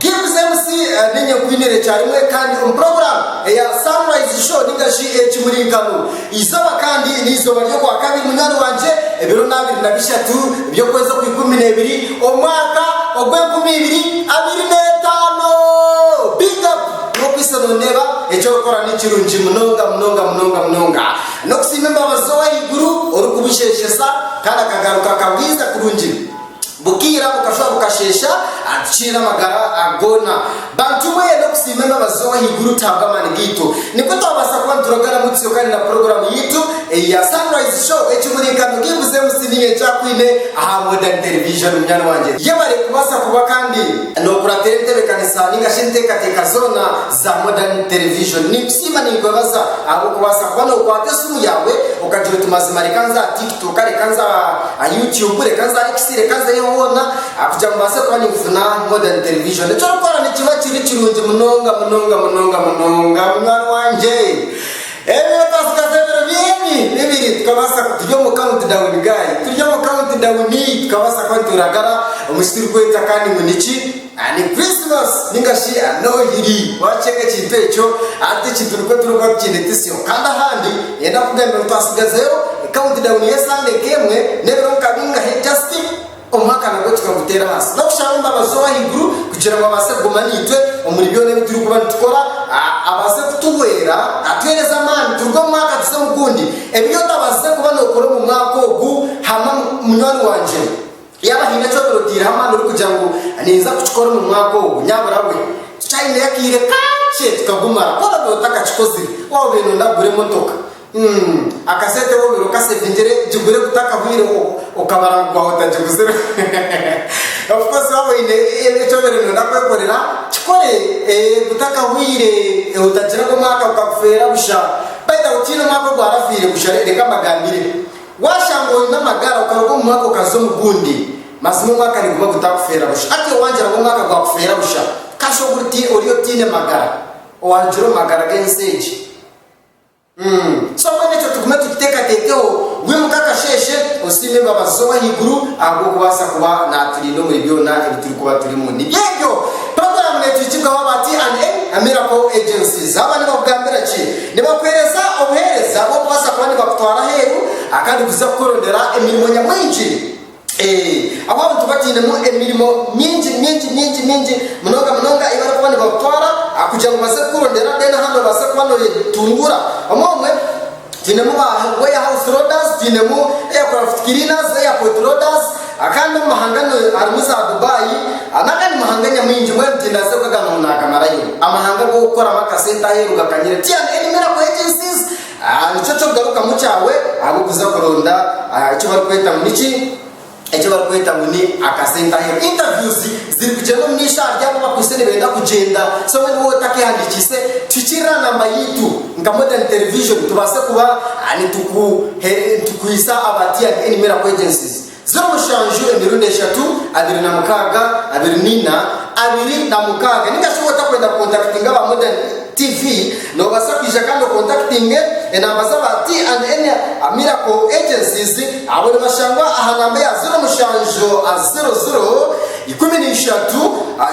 Gibbs MC n'enyakwine ekya rimwe kandi omu puroguraamu eya Sunrise Show ninga shi Ekimurinkano. Eizooba kandi ni eizooba ry'okwakabiri munywani wangye, ebiro ni abiri na bishatu by'okwezi okw'ikumi n'ebiri omwaka ogw'enkumi ibiri abiri n'etaano. Big up n'okwiitsa noneeba eki orikukora ni kirungi munonga munonga munonga munonga. N'okusiima embabazi z'Ow'ahaiguru orikubusheeshesa kandi akagaruka akabwiiza kurungi. Bukiira bukashwa bukasheesha, atukiire amagara ago goona. Bantu mwe, n'okusiima embabazi z'Ow'ahaiguru tihabw'amaani gaitu, nikwo twabaasa kuba nituroga ramutsyo kandi na puroguraamu yaitu ei ya Sunrise Show, ekimuriikano Givuze Musiniye ekyakwine aha Modern Television. Munywani wangye, yebare kubaasa kuba kandi n'okuratira entebeekanisa nainga shi enteekateeka zoona za Modern Television. Ninkusiima ninkwebaza ahabw'okubaasa kuba nookwata esimu yaawe okagira oti mazima reka nze aha Tik. Kwonka reka nze aha YouTube, reka nze aha X, reka nzeyo hoona ah, kugira ngu mbaase kuba ninkufuna Modern Television. Eki orikukora nikiba kiri kirungi munonga munonga munonga munonga munywani wangye. Ebiro twasigaza ebiro bini bibiri tukabaasa ku- turi omu countdown guy, turi omu countdown tukabaasa kuba nitwiragara omu ki turikweeta kandi ngu niki. Ani Krisimasi ninga shi a Nohiri waakiceka ekintu ekyo? Hati ekintu nikwo turikuba tukiine Tisyo kandi ahandi niinyenda kukugambira ngu twasigazeyo kawuntidawuni y'esande nk'emwe n'ebiro nka bingahe jasiti omwaka nagwo tukaguteera ahansi n'okushaba embabazi ow'ahaiguru kugira ngu abaase kuguma naitwe omuri byona ebi turikuba nitukora abaase kutuhwera atuheereze amaani turuge omu mwaka tuze omu gundi ebiri otabaasize kuba nookora omu mwaka ogu hama munywani wangye Yaaba haine eki oturotiireho amaani orikugira ngu ninza kukikora omu mwaka ogu, nyabura we. Tukyaineyo akaire kakye tukagumara. Ku oraabe otakakikozire, obe nooyenda kugura emotoka, akasente obe oine okaseeviingire, gigure kutakahweireho, okamara ngu gwahwa otagiguzire. Of course waaba oine eki obaire nooyenda kwekorera, kikore kutakahweire, otagira ngu omwaka gukakufeera busha. By the way, tihaine omwaka ogwarafiire busha, reka mbagambire. Waashanga oine amagara okaruga omu mwaka okaza omu gundi, mazima omwaka niguma gutakufeera busha. Hati owangira ngu omwaka gwakufeera busha kasha obu ori otaine magara, owaarugire omu magara g'ensi egi. Uum. So mbwenu ekyo tugume tukiteekateekeho, wimuka akasheeshe osiime embabazi z'Ow'ahaiguru ahabw'okubaasa kuba naaturinda omuri byona ebi turikuba turimu. Nibyo ebyo. Puroguraamu neetwikibwaho aba TANA, Miracle Agencies. Aba nibakugambira ki? Nibakuheereza obuheereza bw'okubaasa kuba nibakutwara aheeru akandi kuza kukworondera emirimo nyamwingi. Ee, ahu abantu batainemu emirimo mingi mingi mingi mingi munonga munonga ei barikuba nibakutwara kugira ngu baze kukworondera, then aha noobaasa kuba nooyetunguura. Omwe omwe twinemu ba warehouse loaders, twinemu aircraft cleaners, airport loaders, Akandi omu mahanga nu, harimu za Dubai, n'agandi mahanga nyamwingi, mbwenu tindaze okwe aga muntu naagamarayo. Amahanga ag'okukoramu akasente aheeru gakanyire tyana erimira ku agencies, ah, nikyo ky'okugarukamu kyawe ahabw'okuza kuronda, ah, eki barikweta ngu niki, eki barikweta ngu ni akasente aheeru. Interviews zirikugyenda omu maisho ahari abo abakwitse nibenda kugyenda. So mbwenu wowe otakehandikiise, tuhikirira namba yaitu nka Modern Television tubaase kuba, ah, nitukuhe, nitukwitsa aba tyana erimira ku agencies. Ziro mushanju emirundi eshatu, abiri na mukaaga, abiri na ina, abiri na mukaaga. Ninga shi wotakwenda kukontakitinga aba Modern TV, nobasa kwija kandi okontakitinge enamba z'aba T and N Miracle Agencies, abo nibashangwa aha namba eya ziro mushanju ziro ziro, ikumi na ishatu,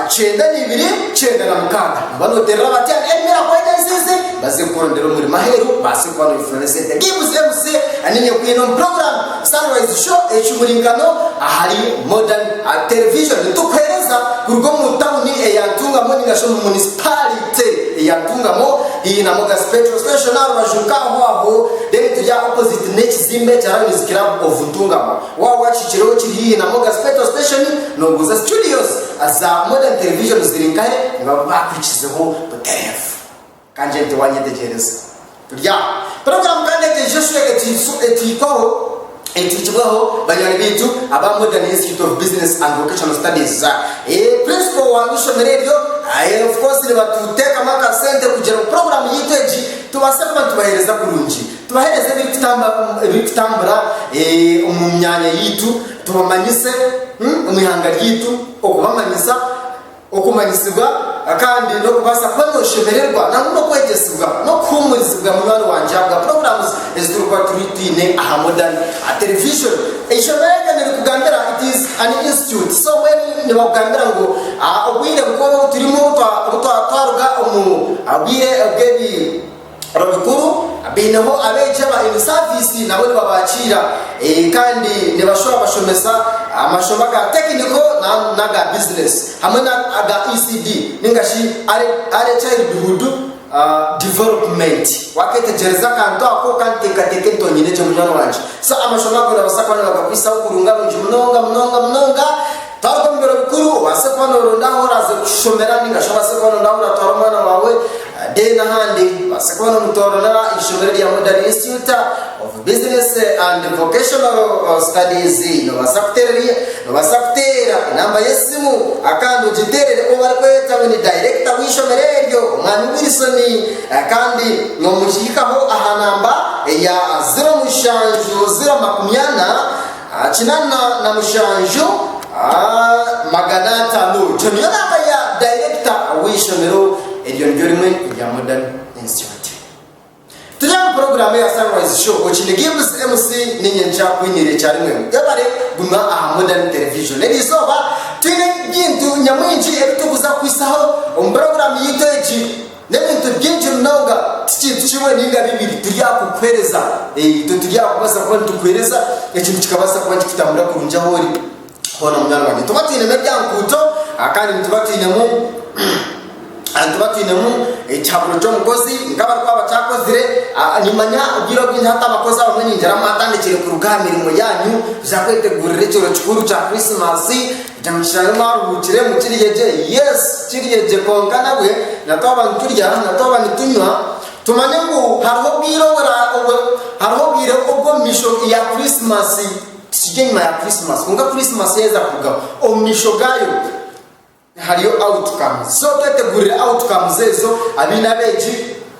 kyenda na ibiri, kyenda na mukaaga. Noba noterera aba T and N Miracle Agencies baze kukurondera omurimo aheru, obase kuba noyefunira esente. Give Zeus Aninia Okwine omu programme. Sunrise Show ekihurinkano ahari Modern Art Television tukuhereza kuruga omu tawuni eya Ntungamo ningashi omu munisipalite eya Ntungamo haihi na Mogas Petrol Station aha rubaju nka aho aho then turi aha opposite n'ekizimbe kya Lions Club of Ntungamo. Waaba wakihikire okiri haihi na Mogas Petrol Station noobuuza studios za Modern Television ziri nkahe nibabakwikirizeho butereevu. Ka ngyende nte waanyetegyereza. Turi aho. Puroguraamu ka ndeete nsheshe eteekwaho, eteekibweho banywani baitu aba Modern Institute of Business and Vocational Studies, za. Prinsipo wa ishomero eryo, of course, nibatuteekamu akasente kugira ngu puroguraamu yaitu egi tubaase kuba nitubaheereza kurungi. Tubaheereze ebirikutamba, ebirikutambura omu myanya yaitu, tubamanyise omu ihanga ryaitu, okubamanyisa. okumanyisibwa kandi n'okubaasa kuba nooshemererwa nangwa n'okwegyesibwa n'okuhuumurizibwa munywani wangye ahabwa puroguraamu ezi turikuba twine aha Modern Television. Eishomero eryo nirikugambira it is an institute so when nibakugambira ngu obwire nk'obu turimu obu twaruga omu bwire bw'ebi Abamikuru baineho abeegi aba in service nabo nibabakiira kandi nibashwera bashomesa amashomo aga tekiniko nangwa n'aga bizinesi hamwe n'aga ECD ninga shi Early Childhood Development. Waketegyereza akantu ako kanteekateeka entongye negye munywani wangye. So amashomo ago nibabasa kuba nibagakwisaho kurunga rungi munonga munonga munonga. Twaruga omu biro bikuru, obaase kuba nooronda ahu oraaze kushomera nainga shi obaase kuba nooronda ahu oratwara omwana waawe then ahandi obaase kuba noomutoororera eishomero rya Modern Institute of Business and Vocational Studies. Noobaasa kuteererayo, noobaasa kuteera namba y'esimu kandi ogiteerere ou barikweta ngu ni dayirekita w'eishomero eryo, Omwami Wilson kandi noomukihikaho aha namba eya ziro mushanju ziro makumi ana, Kinana na mushanju magana ataano. Oijo niyo namba ya dayirekita w'eishomero eryo niryo rimwe erya Modern Institute. Turi aha puroguraamu eya Sunrise Show, Okiine Gibbs MC ninye nkyakwiniire kyarimwe. Webare kuguma aha Modern Television. Eri izooba twine ebintu nyamwingi ebi turikuza kukuhitsyaho omu puroguraamu yaitu egi. N'ebintu byingi munonga, ti kintu kimwe ninga bibiri, turi aha kukuhereza. Ee, itwe turi aha kubaasa kuba nitukuhereza, eki nikikabaasa kuba nikikutambura kurungi ahu ori hoona, munywani wangye. Nituba twinemu erya nguuto, kandi nituba twinemu, nituba twinemu ekihaburo ky'omukozi, nk'abarikuba bataakozire. Nimanya obwire obwingi hati abakozi abamwe ningira mwatandikiire kuruga aha mirimo yaanyu, kuza kwetegurira ekyero kikuru kya Krisimaasi. Nyamushana mwaruhuukiremu, kirye gye. Yes, kirye gye, kwonka nabwe na twaba niturya, na twaba nitunywa, tumanye ngu hariho obwire obura, obu, hariho obwire obw'omu misho ya Krisimasi. Tikiri enyima ya Krisimasi, kwonka Krisimasi yaheza kurugaho. Omu misho gaayo hariyo outcomes. So twetegurire outcomes ezo, abaine abeegi.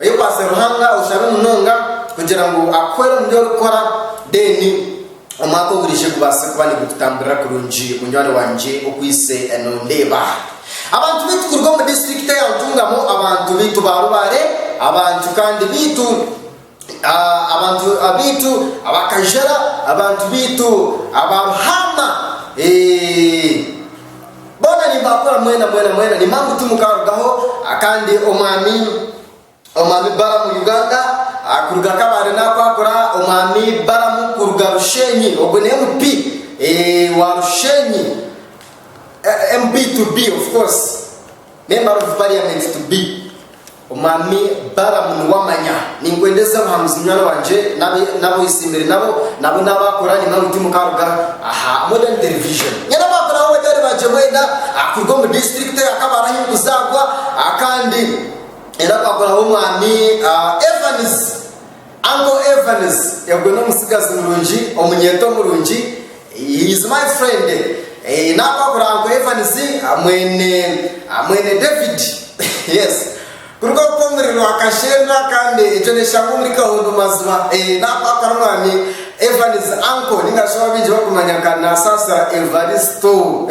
Oyekwase Ruhanga oshabe munonga kugira ngu akuhwere omu bi orikukora then omwaka oguriije gubaase kuba nigukutamburira kurungi munywani wangye okwaitse nondeeba. Abantu baitu kuruga omu disiturikiti eya Ntungamo, abantu baitu ba Rubare, abantu kandi baitu. Abantu baitu abakajara, abantu baitu aba Ruhama, boona nimbakura mwena mwena mwena, nimba ngu timukarugaho kandi omwami omwami Balamu Uganda kuruga Kabale nakwakura omwami Balamu kuruga Rushenyi ogwe ni MP wa Rushenyi MP to be of course member of parliament to be. Omwami Balamu niwe amanya. Ninkwenda eze obuhanuzi munywani wangye n'abu n'abu oyetsimbire nabo nabo n'abu akora aine nawe tiimu kaaruga aha Modern Television. Nyine abaavu nabo banywani bangye mwena kuruga omu disiturikiti eya Kabale ahu ndikuzaarwa kandi era twakoraho Omwami Evans. Uncle Evans ogwe n'omutsigazi murungi, omunyeeto murungi, he is my friend, nakwahura Uncle Evans mwene mwene David, yes kuruga oku omuri Rwakasheenda kandi egyo n'eshaaha omuri Kahondo maziba, nakwahura omwami Evans, uncle ningashi obu abaingi barikumanya nka Nasaasira Evaristo.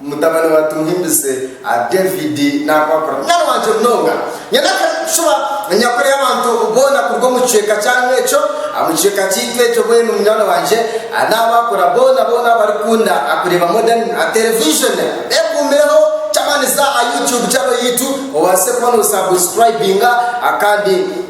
Mutabani wa Tuhimbise, David, naakwakura. Mwana wangye munonga, nyanakare nitucuba enyakura y'abantu boona kuruga omu kicweka kyanyu ekyo, omu kicweka kyaitu ekyo mbwenu munywani wangye naabakura boona boona abarikukunda kureeba modern terevijoni. Beekuumireho ky'amaani za aha YouTube channel yaitu obaase kuba noosabusikurayibinga kandi.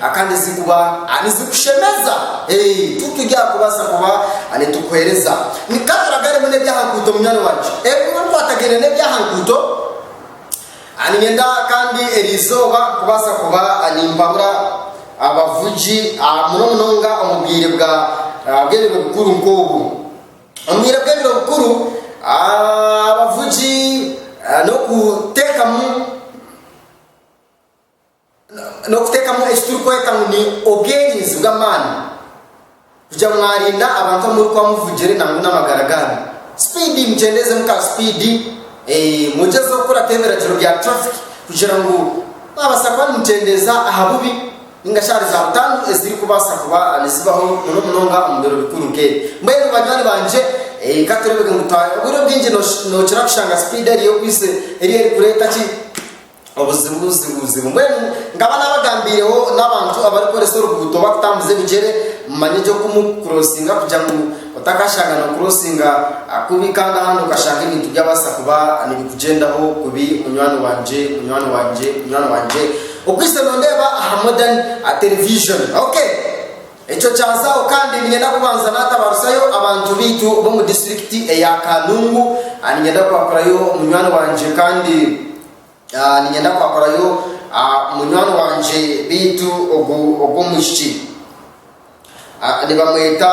A Kandi ezi kuba a nizikushemeza, e tu turi aha kubasa kuba a nitukuhereza. Ni ka turaga arimu n'eby'aha nkuuto, munywani wangye. E Bimwe bikwatagaine n'eby'aha nkuuto, a niinyenda kandi eri izooba kubasa kuba a nimpabura abavugi, a muno munonga omu bwire bwa a bw'ebiro bikuru nk'obu. Omu bwire bw'ebiro bikuru, a abavugi a n'okuteekamu. n'okuteekamu eki turikweta ngu ni obwerinzi bw'amaani kugira ngu mwarinda abantu abu murikuba muvugire nangwa n'amagara gaanyu. Sipiidi, mukyendeezemu ka sipiidi, mwegyezeho kukurataho ebiragiro bya turafiki kugira ngu mwabaasa kuba nimukyendeeza aha bubi nainga shi ahari zaabutandu ezirikubaasa kuba nizibaho muno munonga omu biro bikuru nk'ebi. Mbwenu banywani bangye, ka tureebe ngu obwire obwingi nookira kushanga sipiidi eriyo ku isi eriyo erikureeta ki? obuzibuzibuzibu. Mbwenu nkaba nabagambiireho n'abantu abarikoresa oruguuto bakutambuza ebigyere, mumanye gye oku murikukurosinga kugira ngu otakashanga nokurosinga kubi kandi ahandi okashanga ebintu byabaasa kuba nibikugyendaho kubi munywani wangye, munywani wangye, munywani wangye. Okwitse nondeeba aha modern television. Okay. Ekyo kyazaho kandi niinyenda kubanza naatabaarizayo abantu baitu b'omu disiturikiti eya Kanungu. Niinyenda kwaakurayo munywani wangye kandi niinyenda kwaakurayo munywani wangye baitu ogw'omwishiki nibamweta.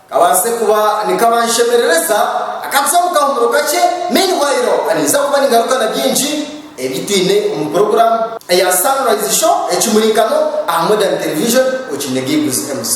Kabaasire kuba nikabanshemerereza akatsi omu kahumuro kakye. Meanwhile, ninza kuba ningaruka na bingi ebi twine omu puroguramu eya Sunrise Show, Ekimurinkano aha Modern Television, okiine Giggles MC.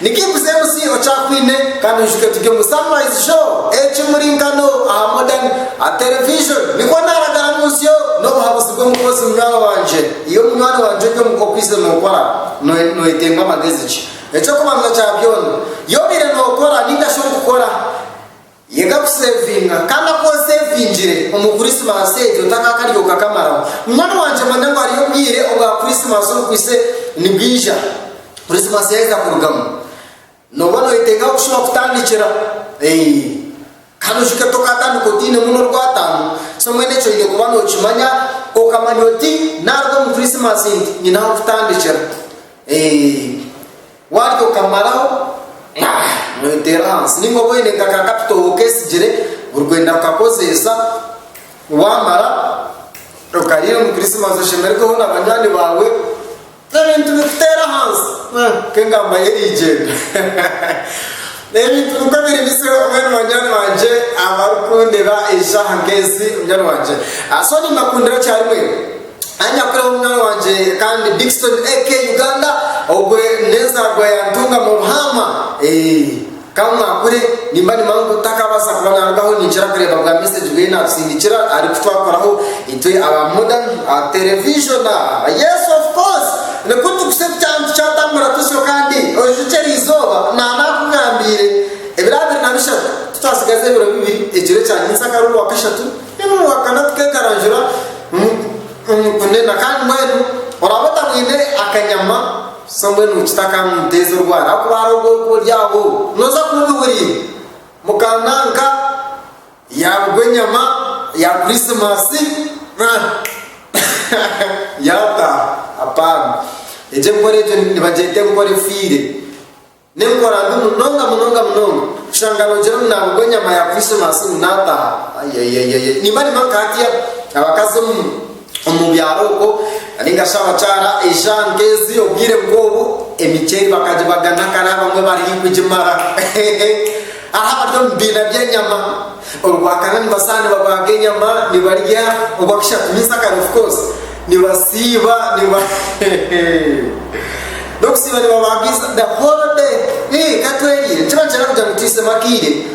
Niki Kuzemusi Okyakwine? Kandi oyijuke turi omu Sunrise Show, ekimurinkano aha Modern a Television. Nikwo naaraga aha mutsyo n'obuhabuzi bw'omukozi munywani wangye. Iwe munywani wangye ori omu k'okwaitse nookora, noye nooyetenga magezi ki? Eky'okubanza kya byona, y'obaire nookora ninga shi orikukora? Yega kuseevinga, kandi aku oseevingire omu Kurisimaasi egyo takaakarya okakamaraho. Munywani wangye manya ngu hariyo obwire obwa Kurisimaasi obukwitse nibwija. Kurisimaasi yaaheza kurugamu, nooba nooyetenga kushuba kutandikira. Kandi ojuke tokaatandika otainemu n'orwataano. So mbwenu ekyo oine kuba nookimanya, okamanya oti, naaruga omu Kurisimaasi nti, nyine ah'okutandikira. Warya okamaraho, mwaa, mweteera ahansi nainga oba oine nka ka kapito okeesigire buri kwenda kukakozeesa, waamara okariira omu Kirisimaasi oshemererweho na banywani baawe, ebintu bikuteera ahansi, mwaa, nk'engamba yo eriigyenda. Ebintu nikwo biri bize mbwenu banywani bangye abarikundeba eshaaha nk'ezi, munywani wangye, ah, so nimbakundira kyarimwe. Ai Nyakureho munywani wangye kandi Dickson AK Uganda ogwe n'enzaarwa ya Ntunga mu Buhaama eeh Ka mwakure nimba nimanya ngu takaabaasa kuba naarugaho ninkira kureeba bwa message bweye naatusindikira ari ku twakoraho itwe aba Modern Television Yes of course nikwo tukuse tukyanga tukyatambura tusyo kandi oijukye eriizooba naanaakugambiire ebiro abiri na bishatu tutaatsigaze ebiro bibiri ekiro ekya nyentsya akari owa kashatu Nimuhakana kuteekarangura omu kunena kandi mbwenu oraabe otamwine akanyama, so mbwenu nikita ka nimuteeza orwaara ahakuba hariho obwoku oryaaho nooza kuba obihuriire mukaananka yaarugwa enyama ya Kurisimasi yaataaha? Apaana! Egyo enkora egyo nibagyeta enkora efiire. N'enkora mbi munonga munonga munonga kushanga nogira ngu naaba ogw'enyama ya Krisimaasi ngu naataaha ayayayayay nimba nimba nka hatya abakazi omu omu byaro okwo nainga shi abakyara eija nka ezi obwire nk'obu emiceeri bakagibagana kare abamwe bari haigukugimara hehe hariho abari omu bibiina by'enyama. Orwakana nibasana nibabaaga enyama nibarya orwakishatu means akare of course nibasiiba niba nokusiiba nibabaaga iza the whole day ii katweriire nikiba nikyenda kugira ngu tuhisemu akaire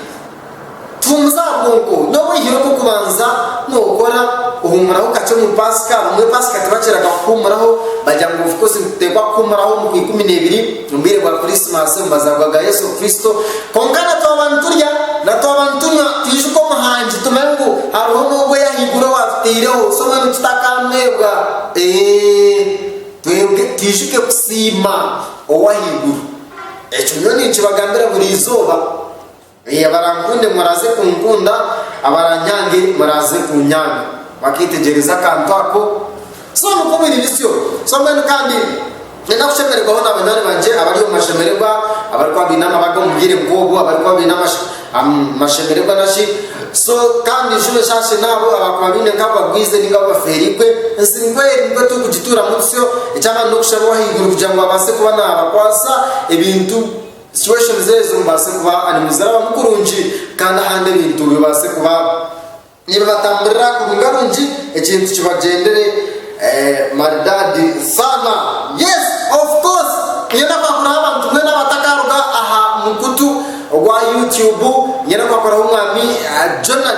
tuhumuze aha bwonko nobwihire obwokubanza nokora ohumuraho kakye omu pasika abamwe pasika tibakiraga kuhumuraho bagira ngu of course nituteekwa kuhumuraho omu ku ikumi nebiri Omu bwire bwa Kurisimaasi, omu mazaarwa ga Yesu Kristo, kwonka na twaba niturya, na twaba nitunywa, twijuke Omuhangi, tumanye ngu hariho n'Ogwo Ow'ahaiguru owaatutaireho. Si mbwenu tutakaamwebwa. Ee, twebwe twijuke kusiima Ow'ahaiguru. Ekyo nyowe ninkibagambira buri izooba. Ee, abarankunde muraaze kunkunda, abaranyange muraaze kunyanga. Bakeetegyereza akantu ako. So, nikwo biri bisyo. So, mbwenu kandi, niinyenda kushemererwaho na banywani bangye abari omu mashemererwa, abarikuba baine amabanga omu bwire nk'obwo, abarikuba baine amashe, am, mashemererwa na shi. So, kandi nshube enshaashe n'abo abaakuba baine nk'abu bagwize nainga abu bafeereirwe. Ensi nikwo eri, nikwo turikugituuramu tutyo. Eky'amaani n'okushaba Ow'ahaiguru kugira ngu abaase kuba naabakwasa ebintu. situations ezo bibaase kuba ari muzirabamu kurungi kandi ahandi ebintu bibaase kuba nibibatamburira kurunga rungi ekintu kibagyendere maridaadi saana yes of course niyo nakwakuraho abantu mwena abatakaruga aha mukutu ogwa YouTube niyo nakwakuraho omwami Jonah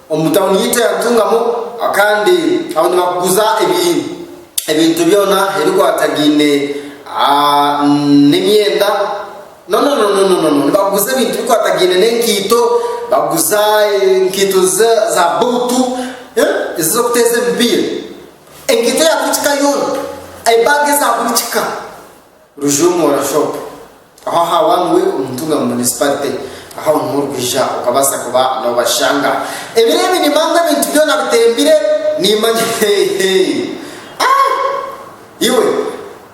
Omu tauni yaitu eya Ntungamo kandi ahu nibakuguza ebintu byona ebikwatagaine n'emyenda, nonononono nibakuguza ebintu ebikwatagaine n'enkaito, bakuguza enkaito za buutu ezi ez'okuteeza emipiira, enkaito ya buri kika yoona, ebaaga eza buri kika. Rujuumura Shop aho aha Wangwe omu Ntunga Municipality ahu omuhwa orikwiija okabaasa kuba nobashanga. Ebiro ebi nimanya ebintu byoona bitembire nimanya heeheeyi aah iwe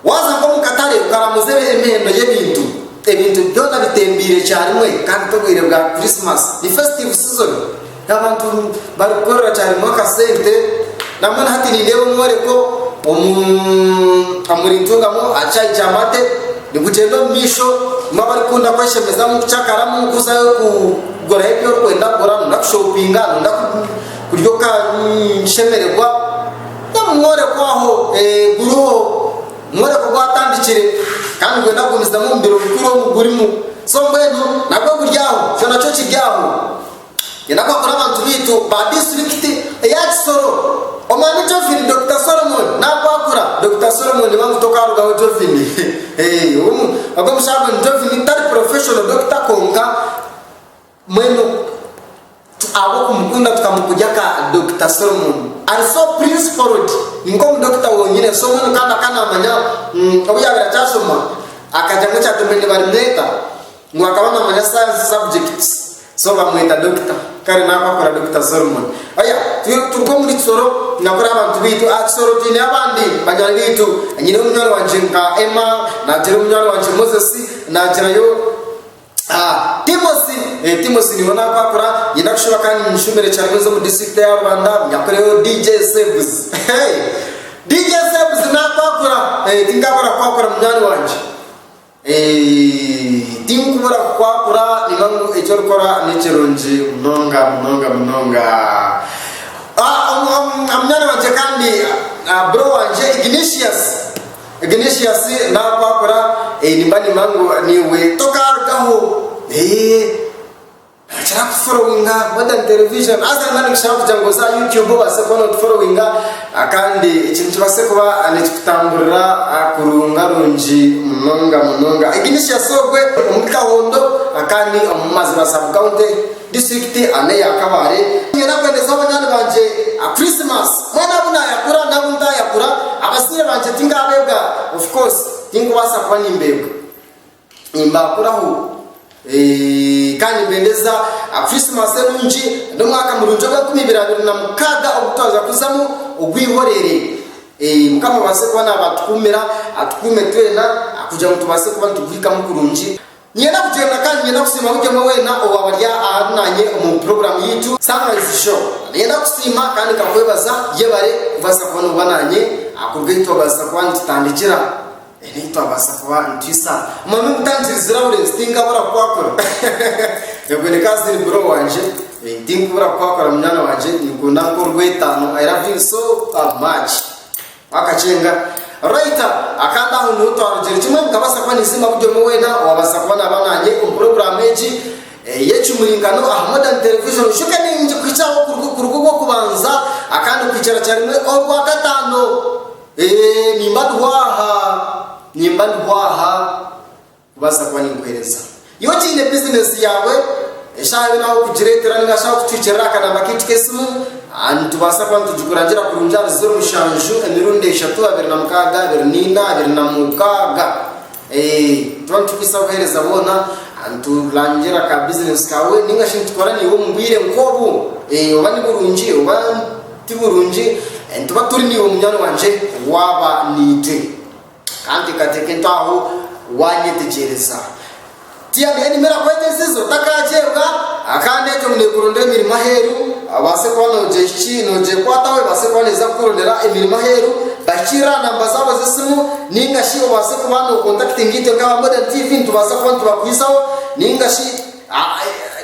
waaza nk'omu katare okaramuza emihendo y'ebintu ebintu byoona bitembiire kyarimwe kandi n'obwiire bwa Christmas ni festive season. Ni abantu barikukorera kyarimu akasente nabwo na hati nindeeba omworeko omu rintungamu aha caayi kya mate nigugyenda omu maisho bamwe abarikukunda kweshemezamu kucakaramu kuzayo kugurayo ebi orikwenda kugura noba orikuza kushopinga noba orikuza kurya okashemererwa mbwenu omworeko aho guriho omworeko gwatandikire kandi nigwenda kugumizamu omu biro bikuru omu gurimu so mbwenu nabwo guri aho kyona kiri aho Twine amakuru abantu baitu ba disiturikiti eya Kisoro. Omwami Jovin, Dokita Solomon, nakwakura. Dokita Solomon niba muto okarugaho Jovin. Ogwo mushaarwenu Jovin tari professional Dokita kwonka mbwenu ahabwokumukunda tukamugurya ka Dokita Solomon. Ari so principled ninka omu Dokita wonyine so mbwenu nkaba nka namanya obu yabire akyashoma akagyamu ekyati mbwenu nibarimweta. Ngu akaba namanya science subject so bamweta Dokita kare naaku akora Dokita Solomon oya twiha kuturuka omuri kisoro ninga kuri abantu baitu aha kisoro twineyo abandi banywani baitu nyine omunywani wangye nka Emma nagira omunywani wangye Moses nagirayo ah Timothy eh Timothy niwe naaku akora nyenda kushuba kandi nimushumbire kyaremwe z'omu district ya Rubanda nyakureyo DJ Sebs DJ Sebs naaku akora eh tinka akora ku akora munywani wangye Tinkubura kukwakura ninga ngu eki orikora nikirungi munonga munonga munonga. Munyaanya wangye kandi bro wangye Ignatius, Ignatius naakwakura nimba niimanya ngu naiwe tokaarugaho. Kira kutuforowinga Modern Television haza niba ninkishaba kugira ngu oze aha YouTube obaase kuba nootuforowinga kandi eki nikibaase kuba nikikutamburira kurungarungi munonga munonga. Ignatius ogwe omuri Kahondo kandi omu Maziba Sub County, District and eya Kabale. Niinyenda kuhendeza banywani bangye Christmas mbwenu abu naayakura n'abu ntaayakura. Abazaire bangye tinkaabeebwa of course tinkubaasa kuba nimbeebwa. Nimbaakuraho kandi nimbendeza Krisimasi enungi n'omwaka murungi ogw'enkumi ibiri abiri na mukaaga ogu twaza kuzamu ogw'eihoreere. Mukama abaase kuba naabatukuumira, atukuume twena kugira ngu tubaase kuba nituguhikamu kurungi. Niinyenda kugyenda kandi niinyenda kusiima buri omwe weena owaaba ari ahari naanye omu puroguraamu yaitu Sunrise Show. Niinyenda kusiima kandi nkakwebaza. Yebare kubaasa kuba nooba naanye kuruga ahi twabaasa kuba nitutandikira. Nitwabaasa kuba nitwitsa omwana omutangirizi zirabura ezi tinkabura kukwakura ebwe ni ka ziri bro wangye eh, tinkubura kukwakura munyaana wangye ninkunda nk'orw'etaano I love you so uh, much wakakyenga right akandi aho niho twarugyere kimwe nkabaasa kuba ninsima buri omwe weena owabaasa kuba naaba nanye omu puroguraamu egi eh, y'ekimurinkano aha modern television shoka ningi kuhikyaho kuruga kuruga ogw'okubanza akandi kuhikyira kyarimwe orwakataano Ee, nimba ndiho aha. Nimba ndiho aha kubaasa kuba ninkuheereza. Iwe okiine bizineesi yaawe, eshaaha yoona ahu okugireetera nainga shi ahu okucwikirira aha kanaamba kaitu k'esimu, nitubaasa kuba nitugikurangira kurungi ahari ziro mushanju emirundi eshatu, abiri na mukaaga, abiri na ina, abiri na mukaaga. Eeh tuba nitukwitsa buheereza boona niturangira ka business kaawe ninga shi nitukora naiwe omu bwiire nk'obu eeh oba ni burungi oba ti burungi nituba turi naiwe munywani wangye waaba naitwe. Ka nteekateeke nti aho waanyetegyereza. Tiyaine emirimo erakweta ensinziro takagyeebwa, kandi egyo ngu neekurondera emirimo aheeru, obaase kuba noogyehiki noogyekwataho ebaase kuba neeza kukurondera emirimo aheeru, bahikirire aha namba zaabo z'esimu nainga shi obaase kuba nookontakitinga itwe nk'aba Modern TV nitubaasa kuba nitubakwisaho nainga shi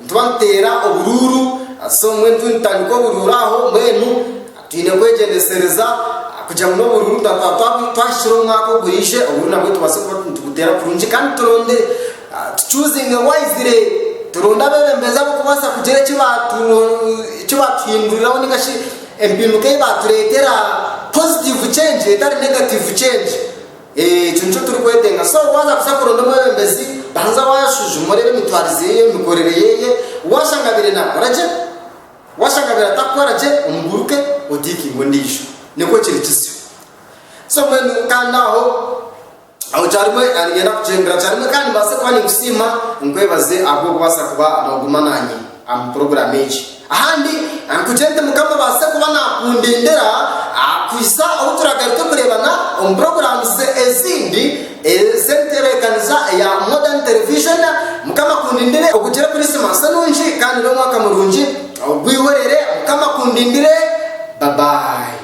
Nitwateera oburuuru, so mbwenu turiyo nitutandika oburuuru aho mbwenu twine kwegyendesereza kugira ngu n'oburuuru twaaba twahikire omu mwaka oguriije oburuuru nabwo tubaase kuba nitubuteera kurungi kandi turonde tucuuzinge waizire turonde abeebembezi abarikubaasa kugira eki baatuhinduriraho nainga shi empinduka ei baatureetera, positive change etari negative change. Ekyo nikyo turikwetenga. So waaza kuza kuronda omwebembezi, banza waashujuma oreebe emitwarize ye, emikorere ye. Waashanga abaire naakora gye, waashanga abaire atakukora gye, omuguruke oteekinge ondiijo. Nikwo kiri kizyo. So mbwenu kandi aho, aho kyarimo niinyenda kugyendera kyarimo kandi mbaase kuba ninkusiima, nkwebaze ahabw'okubaasa kuba nooguma naanye. Amu puroguramu egi. Ahandi, nkugire nti Mukama abaase kuba naakundindira kuhisa obu turaagaruke kureebana omu puroguramu ze ezindi ez'entebeekaniza eya Modern Television. Mukama akundindire ogugire Kurisimansi nungi kandi n'omwaka murungi ogwihorere. Mukama akundindire. Babayi.